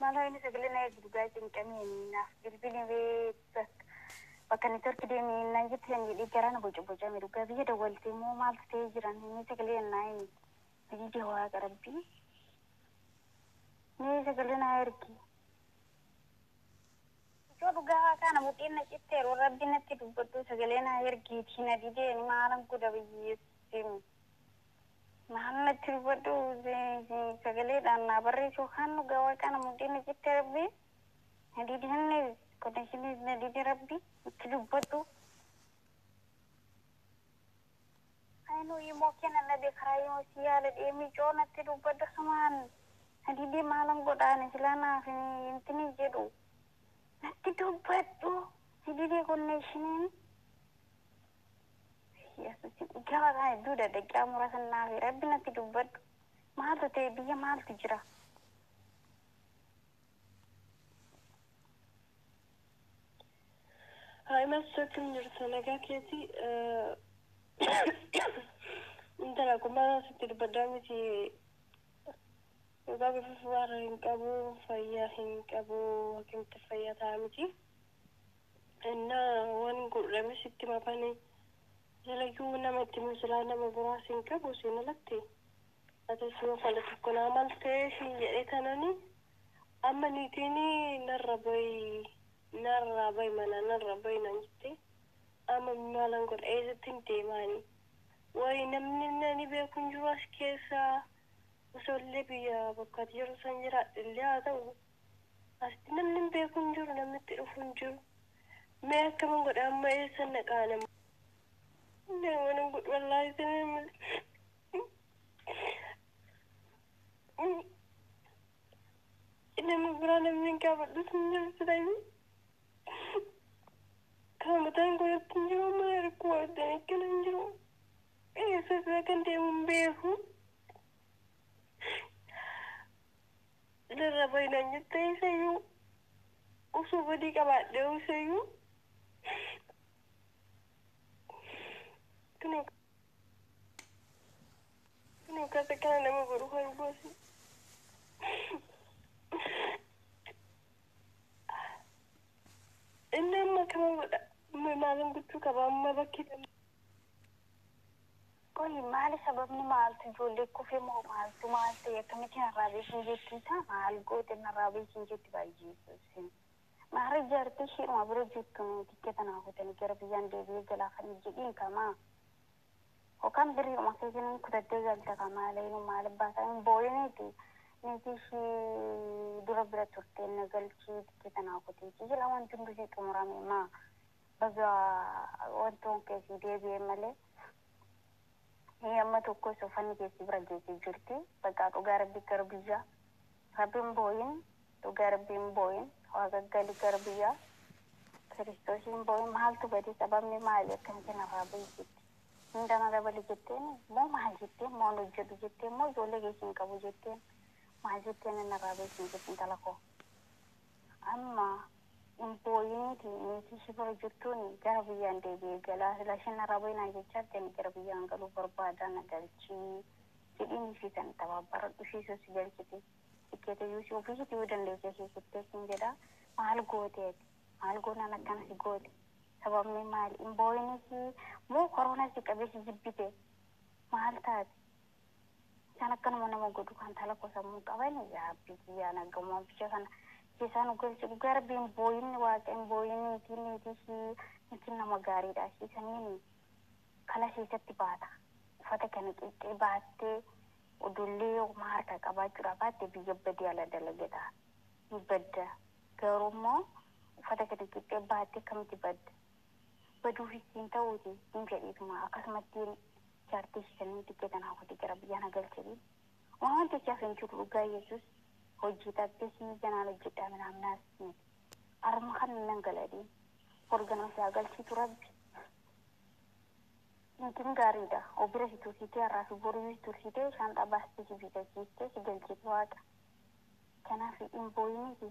Maal ho'ini sagalee na eegi dhugaa cinqameeni naaf bilbili bee bakka bakka network deemi naan jette san jedhee garaa na boca bocame dhugaa biyya dawwalte immoo maaltu ta'ee jiran mee sagalee na himi bilija waaqa rabbii mee sagalee na ergi. Yoo dhugaa waaqaa na mudhiin na citteeru rabbi natti dubbadhu sagalee na ergiitii na dideen maalan godha biyyeessi. Maal natti dubbadhu sagaleedhaan naa barreessi yookaan dhugaa waaqaa na mudhii na citte rabbi na dide hanne connectionis na dide rabbi natti dubbadhu. Ayinuu imoo kee na dhabe karaa imoo si yaala deemii coo natti dubbadhu asumaan na dide maalan godha ani silaa naaf hintini jedhu natti dubbadhu na dide connectioniin. Gaba kana hedduu daqiiqaa muraasa naafi rabbi natti dubbadhu. Maaltu ta'e biyya maaltu jira? Haayimas akkam jirta nagaa keeti intala akkuma sitti dubbaddaa miti dhugaa bifuuf waan hin qabu fayyaa hin qabu akkamitti fayyaa ta'a miti. Ennaa wan godhame sitti mafane silayyuu nama itti himu silaa nama biraa sin qabu siin alatti atis yoo fala tokko naa maltee siin jedhee tanani amma niitiini narra bayi narraa bayi manaa narra bayi naan jettee amma maalan godha eessattin deemaani wayi namni nani beeku hin jiru as keessa osoollee biyya bakka ati jirtu san jiraadhellee haa ta'u Asitti namni hin beeku hin jiru namni itti dhufu hin jiru mee akkaman godha amma eessan dhaqaa nama nama nan godhu wallaahi sanii amma nama biraa namni hin gaafadhus hin jiru silayyuu kan mataan godhatti hin jiru mana rakkoo wajjin akkana hin jiru eessa isaa kan deemu hin beeku narra bahi naan jettee isayyuu osoo badii qabaadhee isayyuu kunoo kunoo kasa kana nama godhu kan gosi inni amma akkana godha maalin gochuu qaba amma bakki Qoyi maali sababni maaltu ijoollee kufe moo maaltu maal ta'e akkamitti narraa beekni jetti isaa maal goote narraa beekni jetti baay'ee ibsine maarree jaartii ishiidhuma bira jirtu mee tikkeeta naa kutanii gara biyyaan deebi'ee galaa kan jedhiin kamaa yookaan birriidhuma keetiin hin kutattee galta kan maalee nu maal abbaasaa hin boo'iniiti niitii ishii dura bira turtee na galchii tikkeeta naa kuteetii jira wanti hunduu sii xumurame maa Baga wantoon kee sii deebi'e malee hii amma tokko isa uffanni kee si bira geesse jirti baqaa dhugaa rabbi gara biyya rabbi hin boo'in dhugaa rabbi hin boo'in waa gaggali gara biyya kiristoosii hin boo'in maaltu bade sababni maali akkamitti narraa bahi jette hunda narra bali jetteen moo maal jetteen moo hin hojjedhu jetteen moo ijoollee keessa hin qabu jetteen maal jetteen narraa bahi hin jettu intala koo amma Hin booyiniiti niitii si bira jirtuuni gara biyyaan deebi'ee galaa silaa isheen narraa bahi naan jechaa jirti ani gara biyyaan galuu barbaadaa na galchii jedhiin ishii kan itti abaabbaradhu ishii sun si galchiti tikkeeta iyyuu si ofii ishiitii yoo dandeessee ishii kuttee siin jedhaa maal goote ati maal goonaan akkana si goote sababni maali hin booyiniiti moo koroona si qabee si jibbite maal taate Isaan akkanuma nama godhu kan talakoo sammuu qaban yaa rabbii kiyyaa naggamumaan biyya kana keessaa nu galchi dhugaa rabbiin booyinni waaqeen booyinni mitiin niitii ishii mitiin nama gaariidha ishii sanniin kana keessatti baata uffata kana qixxee baattee odollee yoo kuma harka qabaachuudha baatte biyya badii ala dalagata ni badda garuu immoo uffata kana qixxee baattee akkamitti badda baduufis siin ta'uuti hin jedhiituma akkasumattiin jaartii ishii kan inni xiqqee tana hawwate gara biyyaa na galchedhi waan jechaaf hin jiru dhugaa yesus hojii dhabdee sii ganaan hojjedhaa minaamnaas miti arma kan nan galadhi bor ganama si haa galchiitu rabbi Niitiin gaariidha. Obira si tursiitee har'aa fi boruu si tursiitee shaanxaa baastee si biifachiistee si galchiti waaqa. Kanaaf hin booyiniti.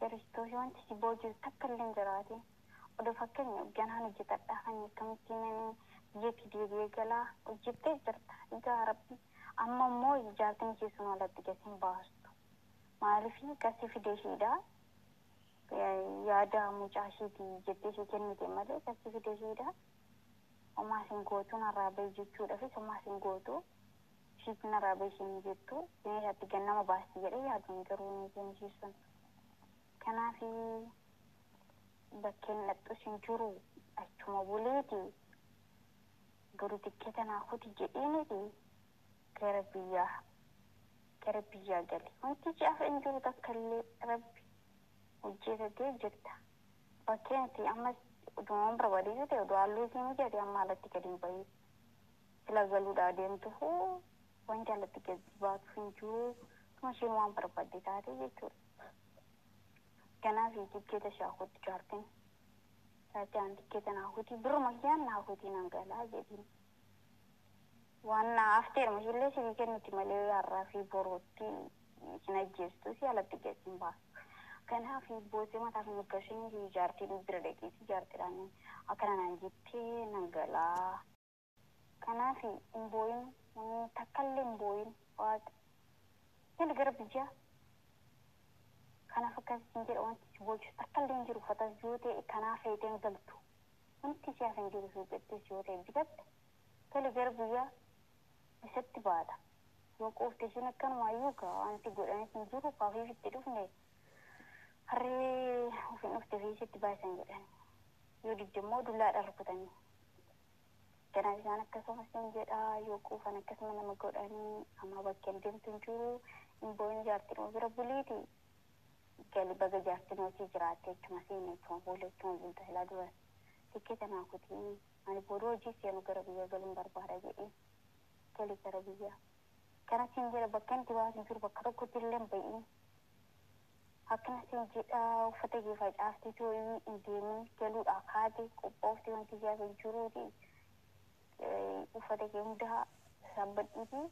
Kiristoos wanti si booji'u takka illee hin jiraatin. Odoo fakkeenyaaf ganaan hojjetadhaa kan akkamitti himanii biyyatti deebi'ee galaa? Hojjettee jirta yaa Rabbi amma immoo jaartiin ishee sun alatti gad hin baastu. Maaliif kan si fide ishiidha. Yaada mucaa ishiiti jettee ishii kennite malee kan si fide ishiidha. Homaa sin gootu narraa bahi jechuudhaafis homaa sin gootu. Ishiitu narraa bahi isheen jettu isheen isaatti gad nama baasti jedhee yaadun garuu hin isheen ishii sun. Kanaaf bakkeen dhaqxus hin jiru achuma buleeti boru tikketa naa kuti jedheeniti gara biyyaa gara biyyaa gale. Wanti si hafe hin jiru takkallee rabbi hojjetatee jirta. Bakkeen itti ammas udumaan barbaadee yoo ta'e udu halluu isii mijate amma alatti gad hin bahin. Silaa galuudhaa deemtufu waan jaallatti gadi baatu hin jiru. Tuma isheen waan barbaadde taate jechuudha. Ganaa fi tikkeeta ishee hakuutti jaartiin. Taatee aan tikkeeta naa kutii birruma kiyyaan naa kutii nan galaa jedhiin. Waan naa hafteeruma ishillee sifi kennuti malee har'aa fi boruutti isin ajjeestu si alatti gadi hin baasu. Ganaa fi boosee mataa fi mirga isheen fi jaartiin bira dhaqiiti jaartiidhaan akkana naan jettee nan galaa. Kanaafi hin booyin namni takkalle hin booyin waaqi gali gara biyya kanaf akkas siin jedha wanti si bochisu takkalle hin jiru uffatas yoo ta'e kanaa feete hin galtu wanti si hafe hin jiru suuqittis yoo ta'e bitatte gali gara biyya isatti baata yoo quufte ishiin akkanumaayyuu gaa wanti godhanis hin jiru kaafiif itti dhufne harree ufin dhufte fi isitti baasan jedhani yoo didde immoo dullaadhaan rukutanii Ganaa bisaan akkasuma sin jedha yoo quufan akkasuma nama godhanii amma bakkeen deemtu hin jiru hin booyin jaartinuma bira buliiti gali baga jaartinuma sii jiraatte jechuma siin jechuma boolla jechuma bulta silaa duras tikkeeta naa kutii ani booda hojii seenu gara biyya galuun barbaada jedhee gali gara biyya kana siin jedha bakka inni baatu hin jiru bakka tokkotti illee hin ba'iin Akkna sii jedha uffata kee facaafti tooyi hin deemin galuudhaa kaate qophoofti wanti si hafe hin jiruuti uffata kee hundaa sassaabadhuuti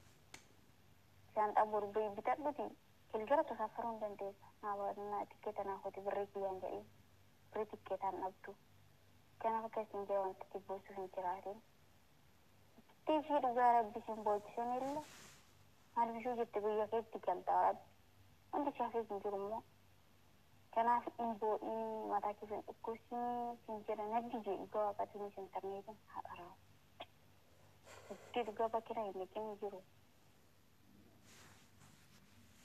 shaanxaa boru bahi bitadhuti galgala tasaaffaruu hin dandeessa naa tikkeeta naa kooti birrii kiyyaan jedhiin birrii tikkeetaan dhabdu kanaaf akka siin jedha wanti si boossuuf hin jiraatin Tifii dhugaa rabbi sin boochisin illa maal bishuu jette biyya keetti galta warabbi wanti si hafeef hin jiru immoo kanaaf hin boo'ini mataa keessa hin dhukkubsini sin jedha naddi jee dhugaa waaqatiinis intarneetiin haa dharaa'u. Itti dhugaa bakira hin dhaqin hin jiru.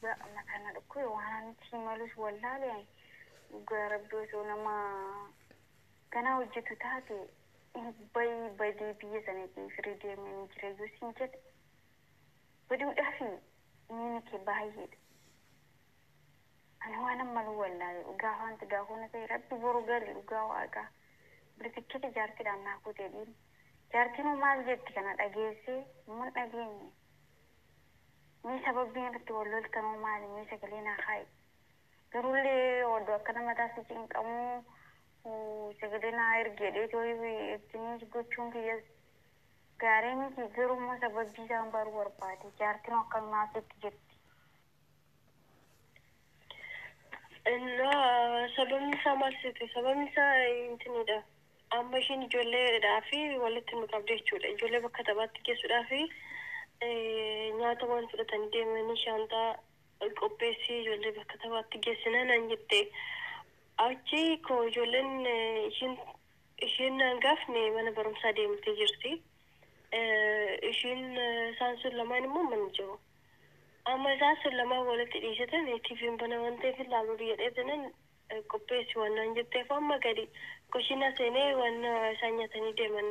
Dhugaa Allah kan na dhukkube waan ani itti himalus wallaale ani. Dhugaa Rabbi osoo nama ganaa hojjetu taate bayi badee biyya sana kee firii deemee ni jira yoo siin jedhe baduudhaafi miini kee baay'eedha. Ani waanan malu wallaale dhugaa afaan tigaa koo na ta'e Rabbi boru gali dhugaa waaqaa. Buli tikketi jaartiidhaan naa kutee dhiin. Jaartiinoo maal jetti kana dhageessee immoo hin dhageenye. Mee sababbiin itti wal loltanuu maali mee sagalee naa kaa'i garullee oddoo akkana mataa si cinqamuu sagalee naa ergi jedhee too itti himus gochuun kiyyas gaarii miti garuu immoo sababbii isaan baruu barbaade jaartinoo akkanumaa sitti jirti Innaa sababni isaa maal seete? Sababni isaa intinidha. Amma ishiin ijoolleedhaa fi walitti nu qabde jechuudha. Ijoollee bakka taphaatti geessuudhaa fi nyaata waan fudhatanii deemanii shaanxaa qopheessii ijoollee bakka taphaatti geessinaa naan jette. Achi koo ijoolleen ishiin ishiin naan gaafne mana barumsaa deemtee jirti. Ishiin isaan sun lamaan immoo mana jiru. Amma isaan sun lamaan walitti dhiisitani TVn bana waan ta'eef hin laaluudhu jedhee jennaan qopheessi waan naan jetteef amma gadi kushiinaa seenee waan isaan nyatanii deeman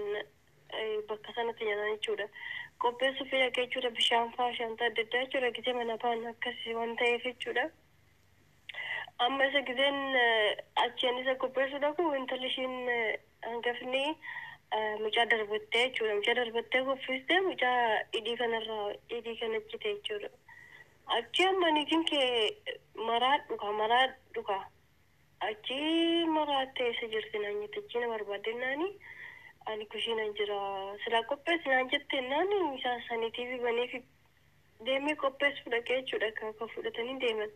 bakka sanatti nyatan jechuudha. Qopheessuu fi dhaqee jechuudha bishaan faa shaantaa adda addaa jechuudha gitee mana baan akkas waan ta'eef jechuudha. Amma isa gizeen achiin isa qopheessuu dhaqu intalli ishiin hangafni mucaa darbattee jechuudha. Mucaa darbattee kuffistee mucaa dhidhii kanarraa dhidhii kana cite jechuudha. Achi amma niitiin kee maraadhu kaa maraadhu kaa. Achi maraattee eessa jirti naan jette achi na barbaadde naani ani kushiina jira silaa qopheessi naan jette naani isaa saniitiifi baneefi deemee qopheessuu dhaqe jechuudha egaa kan fudhatanii deeman.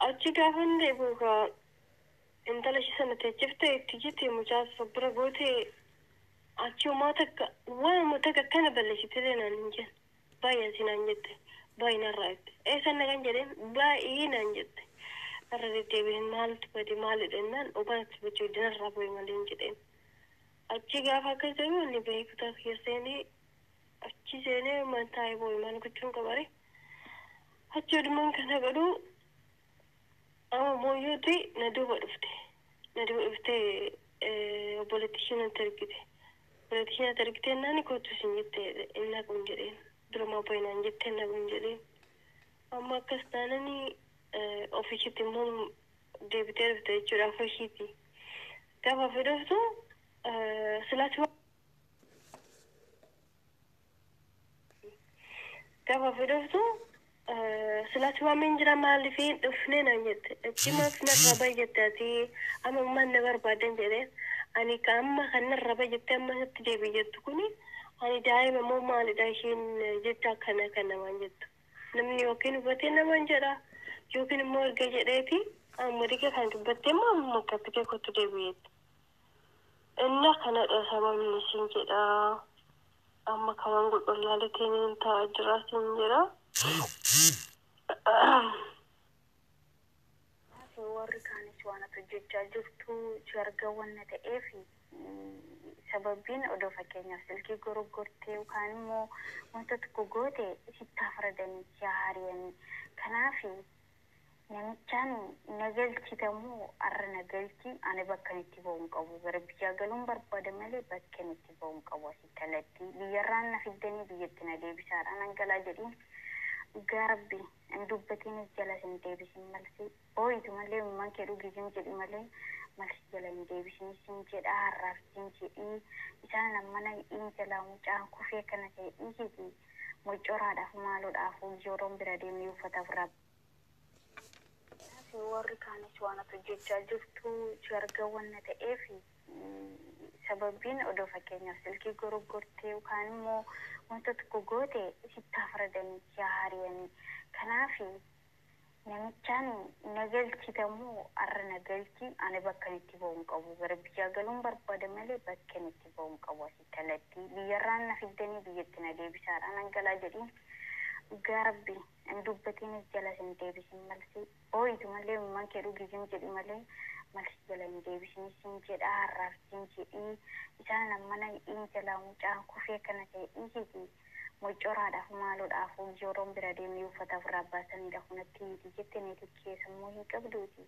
Achi gaafa inni deebi'u egaa intala ishii sana teechiftee itti iyyite mucaa sana of bira gootee achi homaa takka waanuma takka akkana balleessiteelee naan hin jenne. Baay'ee asii naan jette. Baay'ee narraa jette. Eessan dhaqan jedheen baay'ee naan jette. Irra deddeebi'een maaltu bade maalidha jennaan dhugaa natti bachuu didde narraa bu'e maleen jedheen. Achi gaafa akkas jedhu inni bahee kutaa kiyya seenee Achii seenee man taa'ee boo'e maal gochuun qabare. Achi adumaan kana godhu amma booyyuuti na duuba dhufte. Na duuba dhuftee obboleetti ishee natti ergite. Obboleetti ishee natti ergitee naani kootu isin jette hin naquun jedheen. Durumaa boo'e naan jette hin naquun jedheen. Amma akkas taanani ofii ishiitti immoo deebitee dhufte jechuudha afoo ishiiti. Gaafa ofii dhuftu silaas Gaafa fi dhuftu silaati waameen jira maaliif hin dhufne naan jette. Achi maaf narraa baay'atte ati amma maal na barbaadan jedheen. Ani ka amma kan narraa baay'atte amma isatti deebi'i jettu kuni ani daa'ima moo maalidha isheen jecha akkana kan namaan jettu. Namni yookiin hubatee namaan jedha yookiin immoo erga jedheeti amma dhiqee kan dubbatte immoo amma makkatti kee kottu deebi'i jette. Inna kanadha sababni sin jedha amma kaman godhu laalete nin ta'a jira sin jedha Maati warri kaanis waan ati hojjechaa jirtu si arga wanna ta'eef sababbiin odoo fakkeenyaaf silkii goroggortee yookaan immoo wanta tokko goote sitti haa faradanii si haa hariyanii kanaaf Namichaan na galchita moo arra na galchi ani bakkan itti bahu hin qabu gara biyyaa galuun barbaada malee bakken itti bahu hin qabu asii kallattii biyyarraan na fiddanii biyyatti na deebisaa dha nan galaa jedhiin dhugaa rabbi hin dubbatiinis jalas hin deebisin malsi booyitu malee imimman kee dhugisim jedhi malee malsi jala hin deebisini sin jedhaa harraaf jin jedhii isaan ammana hidhiin jalaa mucaan kufee kana ta'e dhiigetii Moccoraadhafu maaloo dhaafuu Yoroon bira deeme yoo uffataaf Rabb. Kanafi worri kaanis waan ati hojjechaa jirtu si argan wanna ta'eef sababbiin odoo fakkeenyaaf silkii goroggortee yookaan immoo wanta tokko goote sitti haa faradanii si haa hariyanii. Kanaafi Namichaan na galchita moo arra na galchi ani bakkan itti bahu hin qabu gara biyyaa galuun barbaada malee bakken itti bahu hin qabu asii kallattii biyyarraan na fiddanii biyyatti na deebisaadha nan galaa jedhiin dhugaa rabbi ani dubbatiinis jala sin deebisin malsii booyitu malee imimman kee dhugiisin jedhi malee malsii jala hin deebisin sin jedhaa harraaf sin jedhii isaan ammana hidhiin jalaa mucaan kufee kana ta'e dhiisiti Moccoraadhafu maaloo dhaafuu Giyooroon bira deemee uffata ofirraa abbaasanidha kun atti miti jette neetikkee sammuu hin qabduuti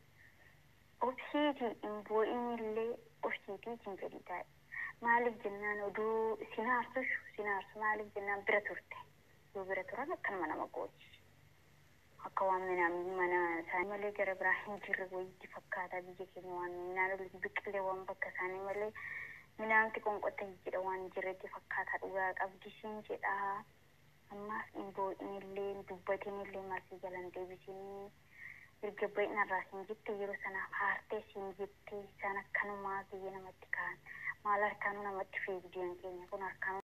obsiiti hin boo'inillee obsiiti itin jedhii taa'i maaliif jennaan oduu sin aarsushu sin aarsu maaliif jennaan bira turte yoo bira turan akkanuma nama gooti. Akka waan minaamin mana isaanii malee gara biraa hin jirre wayiitti fakkaata biyya keenya waan minaan olitti biqilee waan bakka isaanii malee minaamti qonqotta jijjidha waan hin jirretti fakkaataa dhugaa qabdi siin jedhaa ammaaf hin boo'inillee hin dubbatinillee maal si jala hin deebisinii erga ba'i narraa siin jette yeroo sanaaf haartee siin jette isaan akkanumaa biyya namatti ka'an maal harkaanuu namatti fiigdiyan keenya kun harkaanuu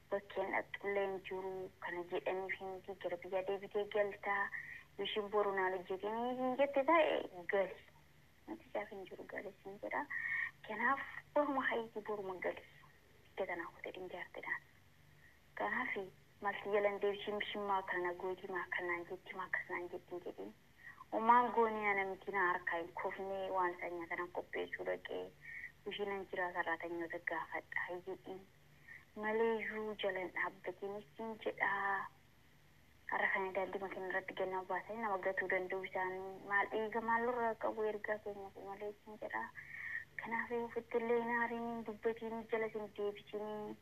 bakkeen dhaqxullee hin jiru kana jedhaniif miti gara biyyaa deebitee galta yoo ishiin boru naan hojjetiin siin jette ta'e gali nuti isaaf hin jiru gali siin jedha kanaaf boruma hayitii boruma gali iddoo tanaa kutee hin jaartidhaan kanaaf malti jalan deebisee mishin maa kana gootii maa kanaan jetti maa akkas naan jetti hin jedhin umaan goonee ana miti na harkaa hin kufnee waan isaa nyaatanan qopheessuu dhaqee bishinan jiraa sarraatanyoota gaafadha hin jedhin maleeyyuu jala hin dhaabbatiinis siin jedha. Har'a kana daandima keenya irratti ganama baasanii nama gatuu danda'uu isaanii maal dhiiga maal nurraa qabu ergaa keenyafi malee siin jedha. Kanaafii ofitti illee hin aariin hin dubbatiinii jalas hin deebisiinii.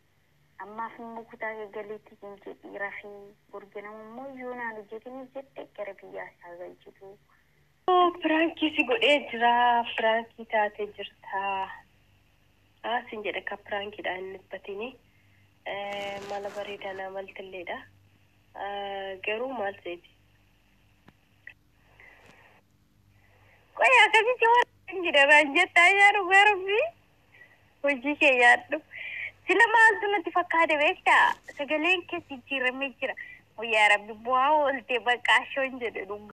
Ammaaf immoo kutaa kee galiitti siin jedhii rafii. Bor ganama immoo yoo naan hojjetinis jette gara biyyaas haa galchituu. Piraankii si godhee jira piraankii taate jirta. Haa sin jedhe ka prank dha hin dhibbatini mala bareeda naa maltillee dha garuu maal seeti qoy akkasitti waan jedhe naan jetta ayyaa dhugaa rabbii hojii kee yaadhu sila maaltu natti fakkaate beekta sagaleen kee jijjiiramee jira yaa rabbi bu'aa oolte baqqaa shoon jedhe dhugaa